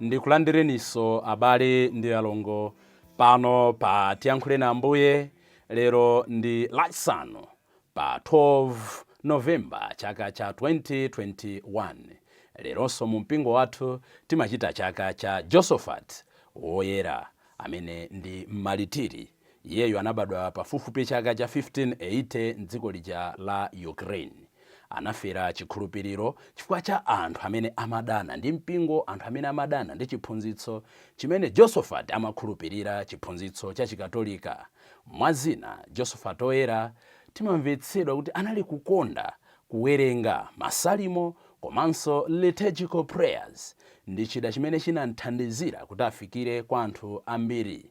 Ndikulandireniso abale ndi alongo pano pa Tiyankhuleni Ambuye, lero ndi Lachisanu pa 12 November chaka cha 2021. Leronso mu mpingo wathu timachita chaka cha Josophat woyera amene ndi mmalitiri. Iyeyo anabadwa pafupifupi chaka cha 1580 m'dziko lija la Ukraine. Anafera chikhulupiriro chifukwa cha anthu amene amadana ndi mpingo, anthu amene amadana ndi chiphunzitso chimene Josophat amakhulupirira, chiphunzitso cha Chikatolika. Mwa zina, Josophat Oyera timamvetsedwa kuti anali kukonda kuwerenga Masalimo komanso liturgical prayers ndi chida chimene chinam'thandizira kuti afikire kwa anthu ambiri.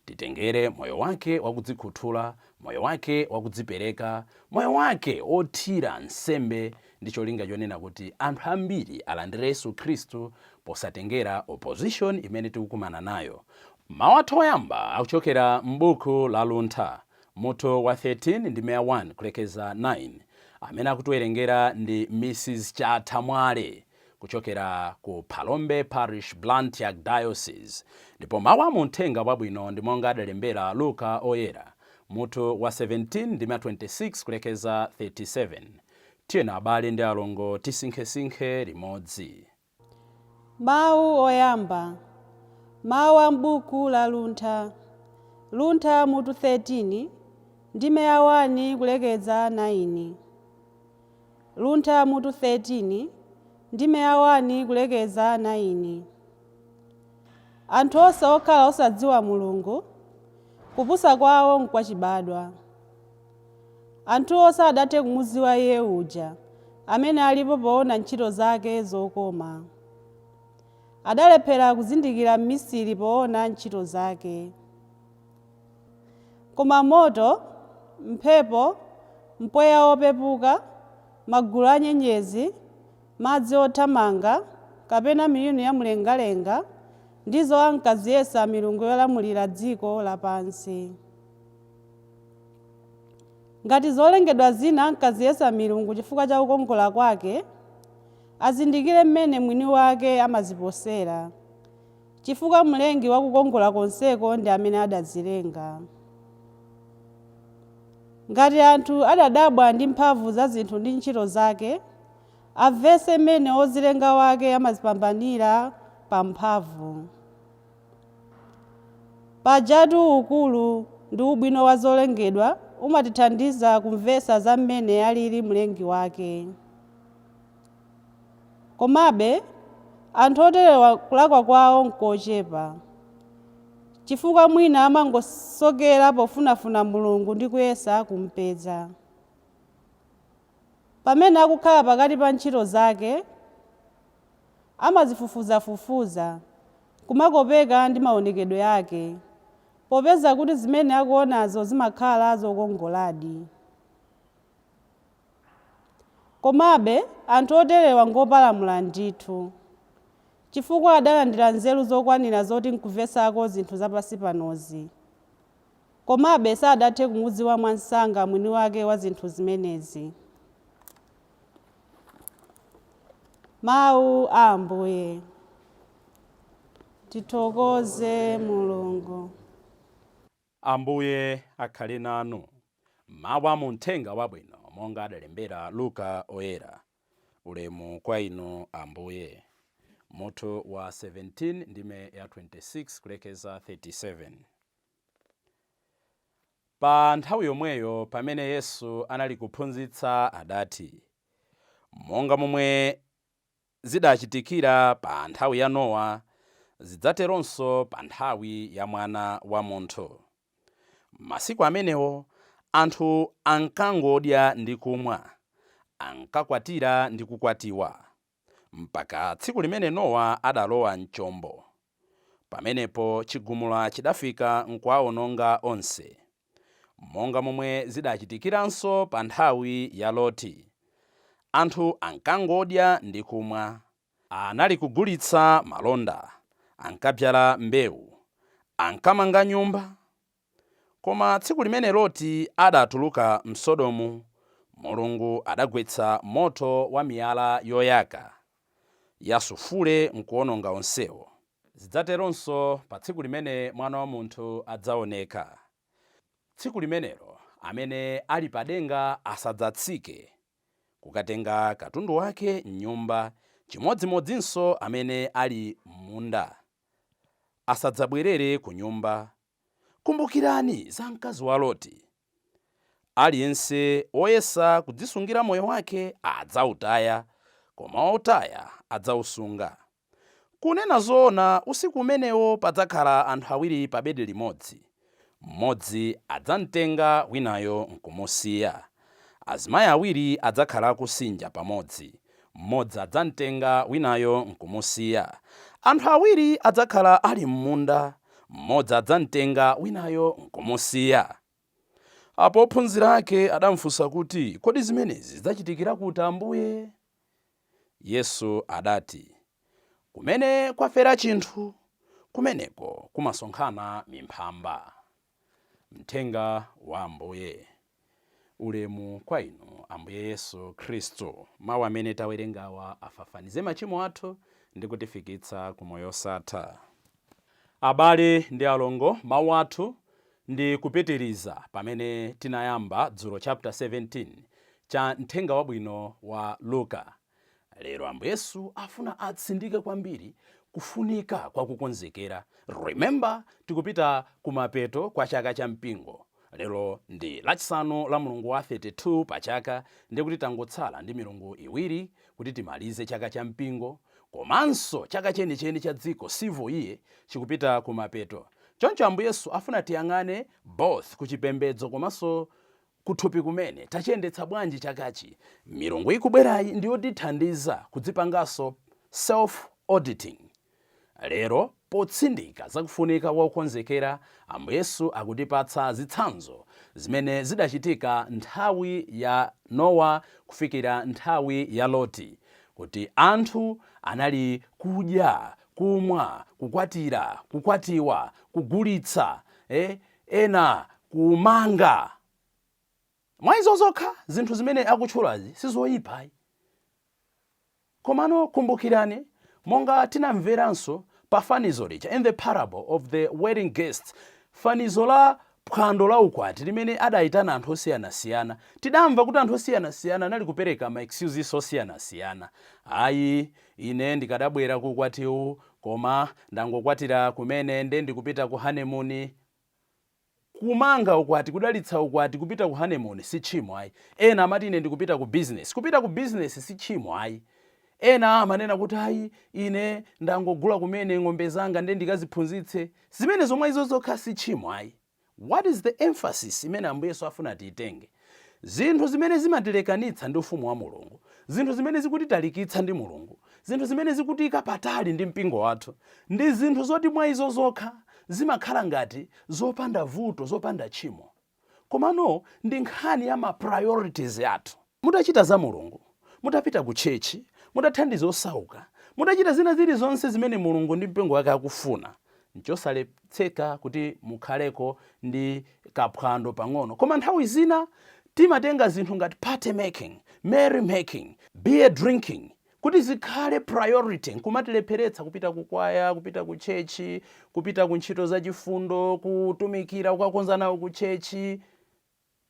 Titengere moyo Wake wa kudzikhuthula, moyo Wake wa kudzipereka, moyo Wake wothira nsembe ndi cholinga chonena kuti anthu ambiri alandire Yesu Khristu posatengera opposition imene tikukumana nayo. Mawu athu oyamba akuchokera m'buku la Luntha, mutu wa 13 ndime ya 1 kulekeza 9, amene akutiwerengera ndi Mrs Chatha Mwale. kuchokera ku Phalombe Parish, Blantyre Archdiocese, ndipo mawu a mu Uthenga Wabwino ndi monga adalembera Luka Oyera, mutu wa 17 ndime ya 26 kulekeza 37. Tiyeni abale ndi alongo tisinkhesinkhe limodzi. Mawu oyamba, mawu a m'buku la Luntha, Luntha mutu 13 ndime ya 1 kulekeza 9. Luntha mutu 13 ndime ya 1 kulekeza 9. Anthu onse okhala osadziwa Mulungu, kupusa kwawo nkwachibadwa. Anthuwo sadathe kumudziwa Iye uja amene alipo poona ntchito zake zokoma. Adalephera kuzindikira mmisiri poona ntchito zake. Koma moto, mphepo, mpweya wopepuka, magulu a nyenyezi, madzi othamanga, kapena miyuni ya mlengalenga ndizo ankaziyesa milungu yolamulira dziko lapansi. Ngati zolengedwa zina ankaziyesa milungu chifukwa cha kukongola kwake, azindikire mmene mwini wake amaziposera, Chifukwa Mlengi wa kukongola konseko ndi amene adazilenga. Ngati anthu adadabwa ndi mphamvu za zinthu ndi ntchito zake, amvetse mmene Wozilenga wake amazipambanira pa mphamvu. Pajatu ukulu ndi ubwino wa zolengedwa umatithandiza kumvetsa za mmene alili Mlengi wake. Komabe, anthu oterewa kulakwa kwawo n'kochepa, chifukwa mwina amangosokera pofunafuna Mulungu ndi kuyesa kum'peza. Pamene akukhala pakati pa ntchito zake, amazifufuzafufuza n'kumakopeka ndi maonekedwe ake, popeza kuti zimene akuonazo zimakhala zokongoladi. Komabe, anthu oterewa ngopalamula ndithu, chifukwa adalandira nzeru zokwanira zoti nkuvetsako zinthu za pansi panozi. Komabe sadathe kumudziwa mwamsanga mwini wake wa zinthu zimenezi. Mawu a Ambuye. Tithokoze Mulungu. Ambuye akhale nanu. Mawu a mu Mthenga Wabwino monga adalembera Luka Oyera. Ulemu kwa Inu, Ambuye. Mutu wa 17, ndime ya 26 kulekeza 37. Pa nthawi yomweyo pamene Yesu anali kuphunzitsa adati, Monga momwe zidachitikira pa nthawi ya Nowa, zidzateronso pa nthawi ya Mwana wa Munthu. Masiku amenewo anthu ankangodya ndi kumwa, ankakwatira ndi kukwatiwa, mpaka tsiku limene Nowa adalowa m'chombo. Pamenepo chigumula chidafika nkuwaononga onse. monga momwe zidachitikiranso pa nthawi ya Loti. Anthu ankangodya ndi kumwa, anali kugulitsa malonda, ankabzala mbewu, ankamanga nyumba. Koma tsiku limene Loti adatuluka m'Sodomu, Mulungu adagwetsa moto wa miyala yoyaka ya sulfure nkuwononga onsewo. Zidzateronso pa tsiku limene Mwana wa munthu adzaoneka. Tsiku limenelo amene ali padenga asadzatsike kukatenga katundu wake m'nyumba, chimodzimodzinso amene ali m'munda asadzabwerere kunyumba. Kumbukirani za mkazi wa Loti. Aliyense woyesa kudzisungira moyo wake adzautaya, koma woutaya adzausunga. Kunena zoona, usiku umenewo padzakhala anthu awiri pabedi limodzi. Mmodzi adzam'tenga winayo n'kumusiya. Azimayi awiri adzakhala akusinja pamodzi. Mmodzi adzam'tenga winayo n'kumusiya. Anthu awiri adzakhala ali m'munda. Mmodzi adzam'tenga winayo n'kumusiya. Apo ophunzira ake adamfunsa kuti, Kodi zimenezi zidzachitikira kuti, Ambuye? Yesu adati, Kumene kwafera chinthu, kumeneko kumasonkhana mimphamba. Mthenga wa Ambuye. Ulemu kwa Inu, Ambuye Yesu Khristu. Mau amene tawerengawa afafanize machimo athu ndi kutifikitsa ku moyo wosatha. Abale ndi alongo, mawu athu ndi kupitiriza pamene tinayamba dzulo chapter 17 cha mthenga wabwino wa Luka. Lero Ambuye Yesu afuna atsindike kwambiri kufunika kwa kukonzekera. Remember tikupita kumapeto kwa chaka cha mpingo Lero ndi Lachisanu la mlungu wa 32 pa chaka ndiye kuti tangotsala ndi milungu iwiri kuti timalize chaka cha mpingo komanso chaka chenicheni cha dziko, civil year, chikupita kumapeto. Choncho Ambuye Yesu afuna tiyang'ane both ku chipembedzo komanso kuthupi kumene tachiyendetsa bwanji chakachi. Milungu ikubwerayi ndiyotithandiza kudzipanganso self auditing. Lero, potsindika za kufunika kwa kukonzekera, Ambuye Yesu akutipatsa zitsanzo zimene zidachitika nthawi ya Nowa kufikira nthawi ya Loti, kuti anthu anali kudya, kumwa, kukwatira, kukwatiwa, kugulitsa, ena kumanga. Mwa izo zokha, zinthu zimene akutchulazi si zoipa ayi. Komano kumbukirani, monga tinamveranso pa fanizo lija, in the parable of the wedding guests, fanizo la phwando la ukwati limene adaitana anthu osiyanasiyana, tidamva kuti anthu osiyanasiyana anali kupereka ma excuses osiyanasiyana. Ayi, ine ndikadabwera ku ukwatiwu, koma ndangokwatira kumene nde ndikupita ku honeymoon. Kumanga ukwati, kudalitsa ukwati, kupita ku honeymoon si tchimo ayi. Ena amati ine ndikupita ku business. Kupita ku business si tchimo ayi. Ena amanena kuti ayi ine ndangogula kumene ng'ombe zanga nde ndikaziphunzitse. Zimenezo mwa izo zokha si tchimo ayi. What is the emphasis imene Ambuye Yesu afuna tiitenge? Zinthu zimene zimatilekanitsa ndi Ufumu wa Mulungu, zinthu zimene zikutitalikitsa ndi Mulungu, zinthu zimene zikutiika patali ndi mpingo wathu, ndi zinthu zoti mwa izo zokha zimakhala ngati zopanda vuto, zopanda tchimo. Komano ndi nkhani ya ma priorities athu. Mutachita za Mulungu, mutapita ku tchetchi, mutathandiza osauka, mutachita zina zilizonse zimene Mulungu ndi mpingo wake akufuna, Nchosaletseka kuti mukhaleko ndi kaphwando pang'ono. Koma nthawi zina timatenga zinthu ngati party making, merry making, beer drinking kuti zikhale priority nkumatilepheretsa kupita ku kwaya, kupita ku church, kupita ku ntchito zachifundo, kutumikira, kukakonza nawo ku church.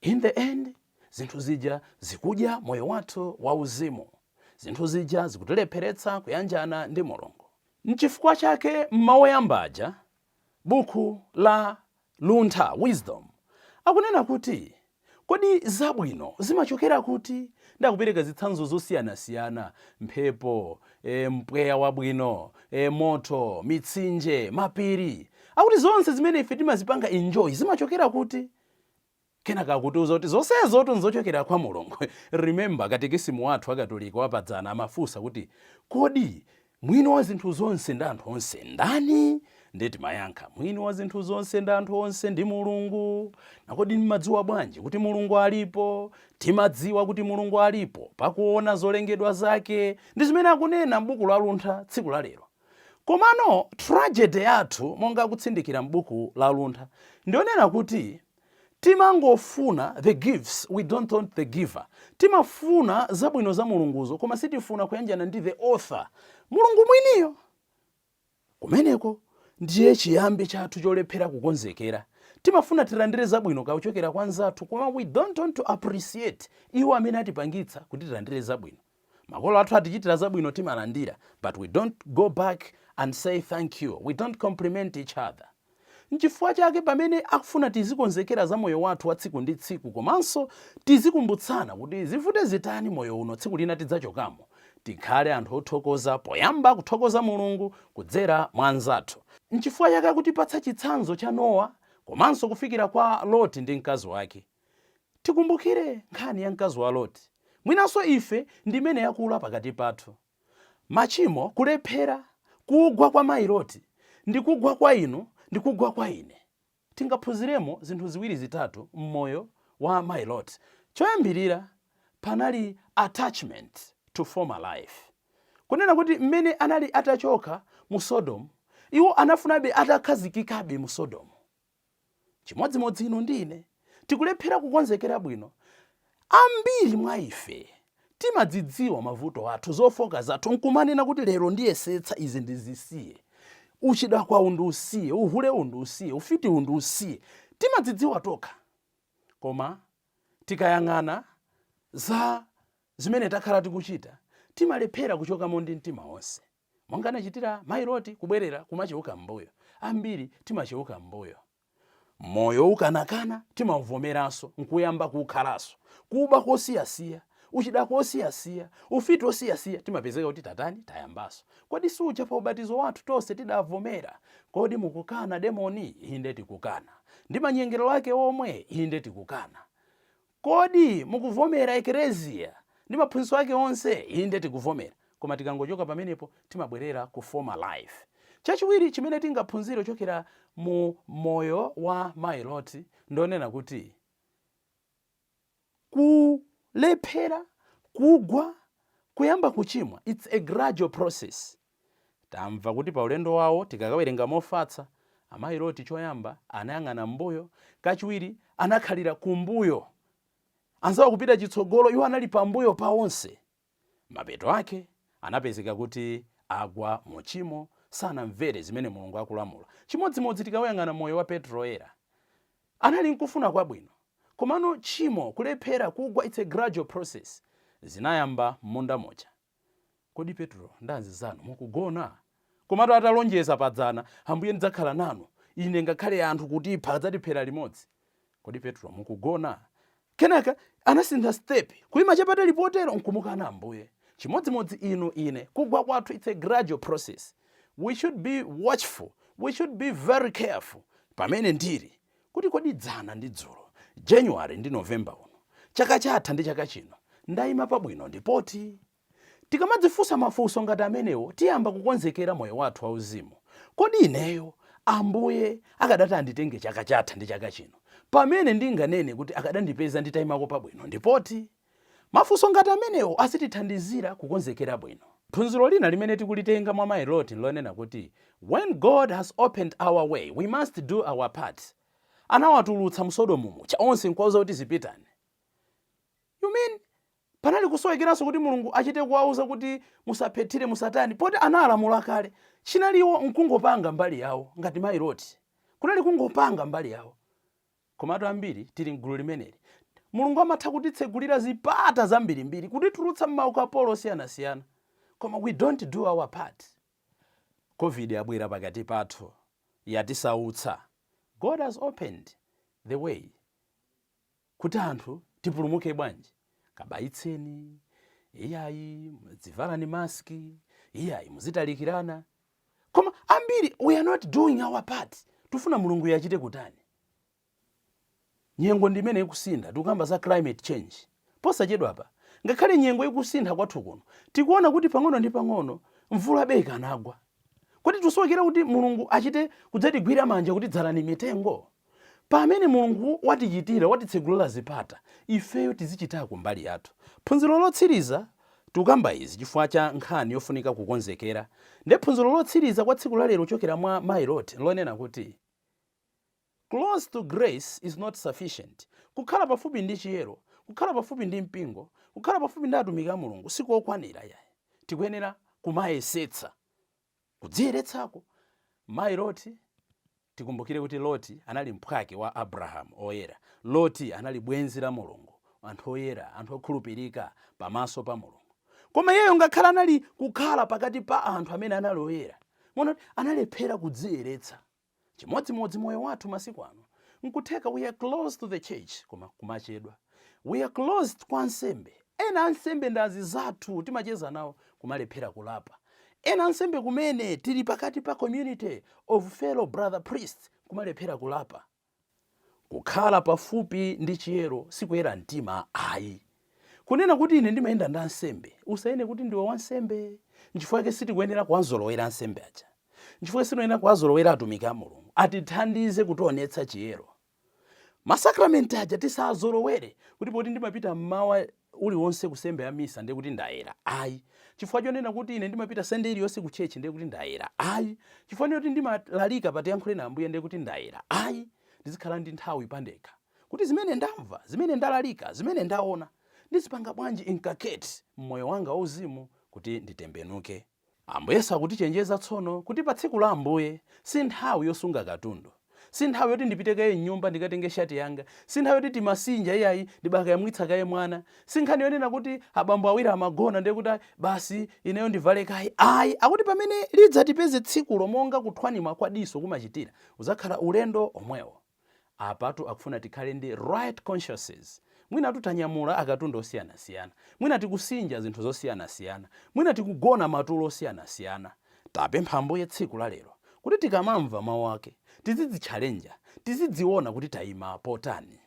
In the end, zinthu zija zikudya moyo wathu wauzimu. Zinthu zija zikutilepheretsa kuyanjana ndi Mulungu. N'chifukwa chake m'mau oyamba aja, buku la Luntha, Wisdom, akunena kuti, Kodi zabwino zimachokera kuti? Ndi akupereka zitsanzo zosiyanasiyana, mphepo, eh, mpweya wabwino, eh, moto, mitsinje, mapiri. Akuti zonse zimene ife timazipanga enjoy zimachokera kuti? Kenaka akutiuza kuti zonsezotu nzochokera kwa Mulungu. Remember katekisimu wathu wa Katolika wa padzana amafunsa kuti kodi Mwini wa zinthu zonse ndi anthu onse ndani? Ndiye timayankha, Mwini wa zinthu zonse ndi anthu onse ndi Mulungu. Na kodi mmadziwa bwanji kuti Mulungu alipo? Timadziwa kuti Mulungu alipo pakuona zolengedwa zake. Ndi zimene akunena m'buku la Luntha tsiku la lero. Komano tragedy yathu monga akutsindikira m'buku la Luntha ndiyonena kuti timangofuna the gifts we don't want the giver. Timafuna zabwino za Mulunguzo koma sitifuna kuyanjana ndi the author, Mulungu mwiniyo. Kumeneko ndiye chiyambi chathu cholephera kukonzekera. Timafuna tilandire zabwino kuchokera kwa nzathu koma we don't want to appreciate iwo amene atipangitsa kuti tilandire zabwino. Makolo athu atichitira zabwino timalandira but we don't go back and say thank you, we don't compliment each other. Nchifukwa chake pamene akufuna tizikonzekera za moyo wathu wa tsiku ndi tsiku komanso tizikumbutsana kuti zivute zitani moyo uno tsiku lina tidzachokamo, tikhale anthu othokoza poyamba kuthokoza Mulungu kudzera mwa anzathu. Nchifukwa chake akutipatsa chitsanzo cha Nowa komanso kufikira kwa Loti ndi mkazi wake. Tikumbukire nkhani ya mkazi wa Loti. Mwinanso ife ndi imene yakula pakati pathu. Machimo, kulephera, kugwa kwa mayi Loti, ndi kugwa kwa inu ndi kugwa kwa ine. Tingaphunziremo zinthu ziwiri zitatu m'moyo wa mayi Loti. Choyambirira, panali attachment to former life. Kunena kuti m'mene anali atachoka mu Sodomu, iwo anafunabe atakhazikikabe mu Sodomu. Chimodzimodzi inu ndi ine, tikulephera kukonzekera bwino. Ambiri mwa ife timadzidziwa mavuto athu, zofooka zathu, nkumanena kuti, Lero ndiyesetsa izi ndizisiye. Uchidakwawu ndiusiye, uhulewu ndiusiye, ufitiwu ndiusiye. Timadzidziwa tokha. Koma tikayang'ana za zimene takhala tikuchita, timalephera kuchokamo ndi mtima wonse. Monga anachitira mayi Loti, kubwerera kumacheuka m'mbuyo. Ambiri timacheuka m'mbuyo. Moyo woukanakana timauvomeranso n'kuyamba kuukhalanso. Kuba kosiyasiya, uchidakwa wosiyasiya, ufiti wosiyasiya timapezeka kuti tatani? Tayambanso. Kodi suja pa ubatizo wathu tonse tidavomera? Kodi mukukana demoni? Inde tikukana. Ndi manyengerero ake omwe? Inde tikukana. Kodi mukuvomera Ekereziya ndi maphunzitso ake onse? Inde, tikuvomera. Koma tikangochoka pamenepo, timabwerera ku former life. Chachiwiri chimene tingaphunzire chokera mu moyo wa Mayi Loti ndonena kuti kulephera, kugwa, kuyamba kuchimwa, it's a gradual process. Tamva kuti paulendo wawo tikakawerenga mofatsa, Amayi Loti choyamba anayang'ana m'mbuyo, kachiwiri anakhalira kumbuyo, anzawo kupita chitsogolo, iwo anali pambuyo pa onse. Mapeto ake anapezeka kuti agwa mu tchimo, sanamvere zimene Mulungu akulamula. Chimodzimodzi tikauyang'ana moyo wa Petro Woyera. Anali nkufuna kwabwino, komano tchimo, kulephera, kugwa, it's a gradual process. Zinayamba m'munda muja. Kodi Petro ndi anzizanu mukugona? Komatu atalonjeza padzana, Ambuye ndidzakhala nanu, ine ngakhale anthu kutipha adzatiphera limodzi. Kodi Petro mukugona? Kenaka anasintha step, kuima chapatali potero nkumukana Ambuye. Chimodzimodzi inu, ine, kugwa kwathu it's a gradual process. We should be watchful, we should be very careful pamene ndili. kuti kodi dzana ndi dzulo, January ndi November uno, chaka chatha ndi chaka chino, ndaima pabwino ndi pati? Tikamadzifunsa mafunso ngati amenewo tiyamba kukonzekera moyo wathu wauzimu. Kodi ineyo Ambuye akadati anditenge chaka chatha ndi chaka chino, pamene ndinganene kuti akadandipeza nditaimako pabwino ndi pati? Mafunso ngati amenewo azitithandizira kukonzekera bwino. Phunziro lina limene tikulitenga mwa Mayi Loti nlonena kuti, When God has opened our way, we must do our part. Anawatulutsa mu Sodomu muja onse nkuwauza kuti zipitani. You mean panali kusowekeranso kuti Mulungu achite kuwauza kuti musaphethire, musatani, poti analamula kale? Chinali iwo nkungopanga mbali yawo ngati Mayi Loti. Kunali kungopanga mbali yawo. Komatu ambiri tili m'gulu limeneli, Mulungu amatha kutitsegulira zipata zambirimbiri, kutitulutsa m'maukapolo osiyanasiyana, koma we don't do our part. Covid yabwera pakati pathu, yatisautsa, God has opened the way kuti anthu tipulumuke bwanji? Kabayitseni, iyayi, muzivala mask, iyayi, muzitalikirana. koma ambiri we are not doing our part tufuna mulungu yachite kutani nyengo ndi imene ikusintha tikukamba za climate change posachedwa apa ngakhale nyengo ikusintha kwathu kuno tikuona kuti pang'ono ndi pang'ono mvulabe ikanagwa kodi tusowekera kuti mulungu achite kudzatigwira manja kuti dzalani mitengo Pamene Mulungu watichitira, watitsegulira zipata, ifeyo tizichitako mbali yathu. Phunziro lotsiriza, Tikukamba izi chifukwa cha nkhani yofunika kukonzekera. Nde phunziro lotsiriza kwa tsiku la lero kuchokera mwa Mayi Loti nlonena kuti, Close to grace is not sufficient. Kukhala pafupi ndi chiyero, kukhala pafupi ndi mpingo, kukhala pafupi ndi atumiki a Mulungu sikokwanira iyayi. Tikuyenera kumayesetsa. Kudziyeretsako. Mayi Loti, tikumbukire kuti Loti anali mphwake wa Abrahamu Oyera. Loti anali bwenzi la Mulungu, anthu oyera, anthu okhulupirika pamaso pa Mulungu. Koma iyeyo ngakhale anali kukhala pakati pa anthu amene anali oyera, mwaona kuti analephera kudziyeretsa. Chimodzimodzi moyo wathu masiku ano. Nkutheka we are close to the church koma kumachedwa. We are close kwa ansembe. Ena ansembe ndi anzathu timacheza nawo kumalephera kulapa. Ena ansembe kumene tili pakati pa community of fellow brother priests kumalephera kulapa. Kukhala pafupi ndi chiyero sikuyera mtima ayi. Kunena kuti ine ndimayenda ndi ansembe, usayese kuti ndiwe wansembe. Nchifukwa chake sitikuyenera kuwazolowera ansembe aja. Nchifukwa chake sitikuyenera kuwazolowera atumiki a Mulungu. Atithandize kutionetsa chiyero. Masakramenti aja tisazolowere kuti poti ndimapita mmawa uliwonse ku sembe ya misa ndiye kuti ndayera ayi. Chifukwa chonena kuti ine ndimapita sande iliyonse ku church ndiye kuti ndayera ayi. Chifukwa choti ndimalalika pa tiyankhuleni Ambuye ndiye kuti ndayera ayi. Ndizikhala ndi nthawi pandekha kuti zimene ndamva, zimene ndalalika, zimene ndaona ndizipanga bwanji inculcate mmoyo wanga wauzimu kuti nditembenuke. Ambuye Yesu akutichenjeza tsono kuti pa tsiku la Ambuye si nthawi yosunga katundu. Si nthawi yoti ndipite kaye m'nyumba ndikatenge shati yanga. Si nthawi yoti timasinja iyayi, ndibakayamwitsa kaye mwana. Si nkhani yonena kuti abambo awiri amagona ndiye kuti basi ineyo ndivale kaye ayi. Akuti pamene lidzatipeze tsikulo monga kuthwanima kwa diso kumachitira, udzakhala ulendo omwewo. Apatu akufuna tikhale ndi right consciences. Mwinatu tanyamula akatundu osiyanasiyana. Mwina tikusinja zinthu zosiyanasiyana. Mwina tikugona matulo osiyanasiyana. Tapempha Ambuye tsiku la lero kuti tikamamva mau ake, tizidzitchalenja, tizidziona kuti taima potani.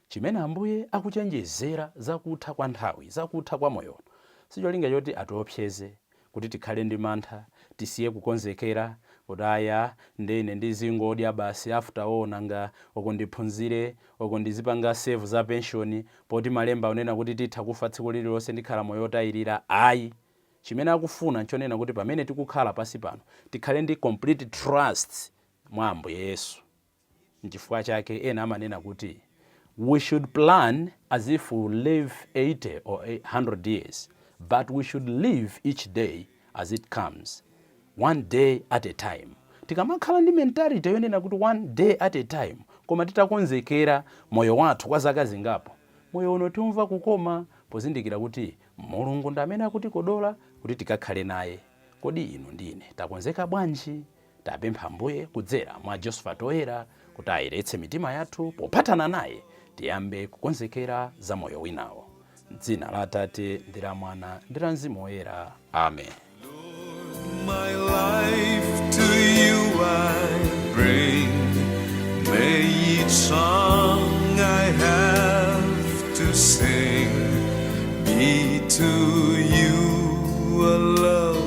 Chimene Ambuye akuchenjezera za kutha kwa nthawi, za kutha kwa moyo uno, sicholinga choti atiopseze, kuti tikhale ndi mantha, tisiye kukonzekera, kuti ayi a, nde ine ndizingodya basi after all nanga uku ndiphunzire, uku ndizipanga save za pension, poti malemba akunena kuti titha kufa tsiku lililonse ndikhala moyo otayilira ayi. Chimene akufuna nchonena kuti pamene tikukhala pansi pano, tikhale ndi complete trust mwa Ambuye Yesu. Nchifukwa chake ena amanena kuti we should plan as if we live 80 or 100 years but we should live each day as it comes, one day at a time. Tikamakhala ndi mentality yonena kuti one day at a time koma titakonzekera moyo wathu kwa zaka zingapo, moyo uno tiumva kukoma pozindikira kuti Mulungu ndi amene akutikodola kuti tikakhale naye. Kodi inu ndi ine takonzeka bwanji Tapempha Ambuye kudzera mwa Josephat Oyera kuti ayeretse mitima yathu pophatana naye tiyambe kukonzekera za moyo winawo. M'dzina la Atate ndi la Mwana ndi la Mzimu Woyera. Amen. My life to you I bring. May each song I have to sing be to you a love.